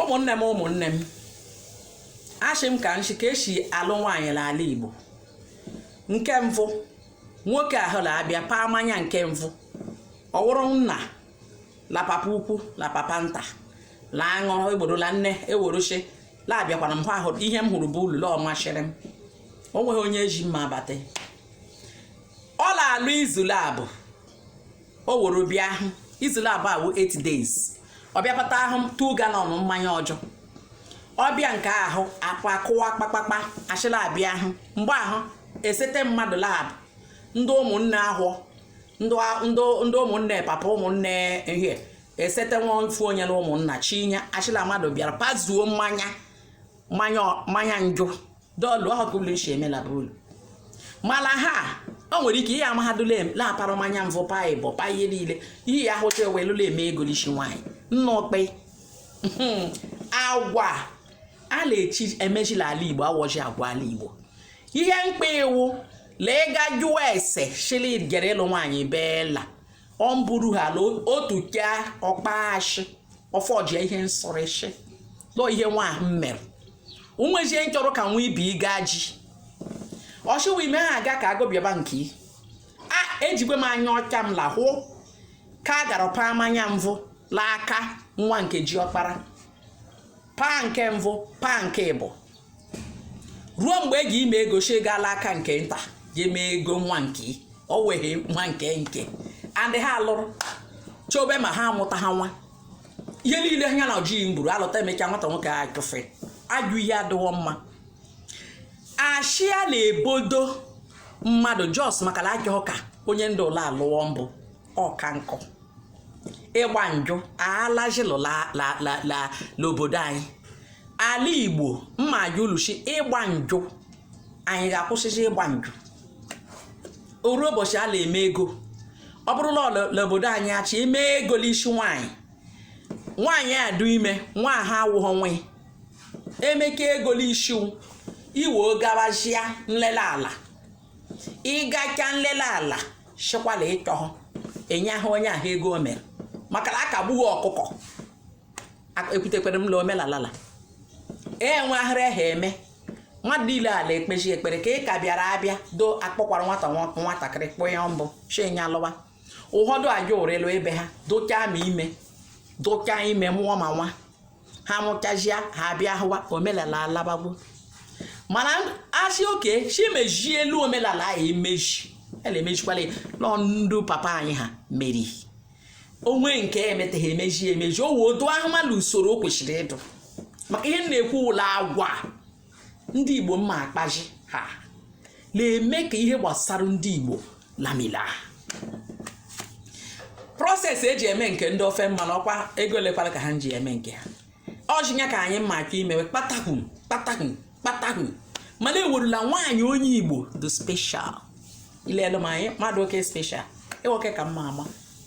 ụmụnne m ụmụnne m ashị m ka nshi ka esi alụ nwaanyị n'ala Igbo nke mvụ nwoke ahụ na-abịa paa mmanya nke mvụ ọ wụrụ nna la papa ukwu la papa nta la aṅụrụ egborola nne e woru shị la abịakwara m ahụ ihe m hụrụ be ulu la ọ mashịrị m o nweghị onye eji mma abata ọ na-alụ izu labụ o woro bịa ahụ izu labụ awụ 8 days ọ bịa pata ahụ 2 galọn mmanya ọjọ ọ bịa nke ahụ akwa akụwa kpakpakpa ashị la abịa ahụ mgbe ahụ esete mmadụ la ndị ụmụnne ahụ ndị a- ndị ndị ụmụnne papa ụmụnne ihe esete nwa ofu onye na ụmụnna shị nya ashị la mmadụ bịara pazuo mmanya njụ dọlụ ọha ka ụlọ isi emela bụ ụlọ mana ha o nwere ike ihe amahadụ la a para mmanya mvụ pa ịbọ pa ihe niile ihe ya hụcha e welụ la-eme ego n'isi nwaanyị nna okpe hmm. agwa a na-eshi emeji l'ala igbo awọji agwa ala igbo ihe mkpa ị wụ la ị gaa jụọ ese shị la ị jere ịlụ nwaanyị beela ọ bụrụ ha ala otu ka ọkpa ashị ọfọjie ihe nsọrịshị lọ ihe nwa ahụ mere onwezie nchọrọ ka nwa ibi gaa ji ọchịwa ime ha aga ka agụbịaba nke a ejikwe m anya ọcha m lahụ ka a gara paa mmanya mvụ l'aka nwa nke ji ọkpara paa nke mbụ paa nke ịbụ ruo mgbe e ji eme ego si gaa l'aka nke nta ji mee ego nwa nke ị. o weghe nwa nke nke andị ha lụrụ chobe ma ha amụta ha nwa ihe niile ha na ọjị mburu alụta emecha nwata nwoke a chụfe ajụ ihe adịghọ mma ashị a na-ebodo mmadụ just maka na achọghị ka onye ndị ụlọ alụọ mbụ ọka nkụ ịgba njụ alajilụ n'obodo anyị ala igbo mma ajụ ulu shị ịgba njụ anyị ga-akwụsịzi ịgba njụ o ru ụbọchị a na-eme ego ọ bụrụ la n'obodo anyị a shị eme ego n'isi nwaanyị nwaanyị adụ ime nwa ha awụghọ nwe emeka ego n'isi iwe gabazia nlele ala ị gacha nlele ala shịkwa la ị chọhụ e nye ahụ onye ahụ ego o mere maka na a ka egbughị ọkụkọ ekwutekwere m la omelala la enweghịrị ha eme mmadụ niile a la-ekpezi ekpere ka ị ka bịara abịa do akpọkwara nwata nwatakịrị kpụọ ya mbụ shị nya lụwa ụfọdụ aja ụrịlụ ebe ha dụchaa ma ime dụchaa ime mụọ ma nwa ha mụchazịa ha abịa hụwa omelala alabagbo mana asị oke si mejie elu omelala anyị emeji a na-emejikwala ya nọ ndụ papa anyị ha meri o nwee nke emeteghị emeji emeji o wee otu ahụ mmadụ usoro o kwesịrị ịdụ maka ihe m na-ekwu wụ la agwa ndị igbo mma akpaji ha na-eme ka ihe gbasara ndị igbo lamila process eji eme nke ndị ofe mmanụ ọkwa ego lekwala ka ha ji eme nke ha ọchịnya ka anyị mma aka imewe kpatakwu kpatakwu kpatakwu mana ewerula nwaanyị onye igbo dụ special ilelu m anyị mmadụ oke special ịwoke ka mma ama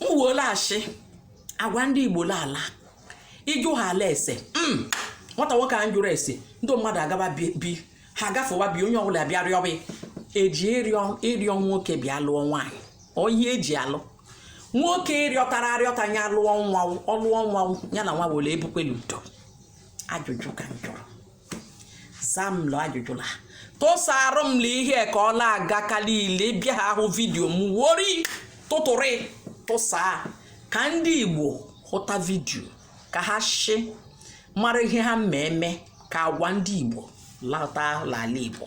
m wuola ashị agwa ndị igbo laala ịjụ ha ala ese nwata nwoke a njụrụ ese ndị mmadụ agaba bi ha gafewa bi onye ọbụla bịa rịọ bi eji ịrịọ nwoke bịa lụọ nwaanyị onye eji alụ nwoke rịọtara arịọta nya lụọ nwa ọ lụọ nwa nya la nwa were ebukwelu udo ajụjụ ka m jụrụ zaa m lụ ajụjụ la tụsaarụ m la ihe ka ọ la-aga ka liile bịa ha ahụ vidiyo m wori tụtụrị tụsa ka ndị igbo hụta vidiyo ka ha shi mara ihe ha mme eme ka agwa ndị igbo lata l'ala igbo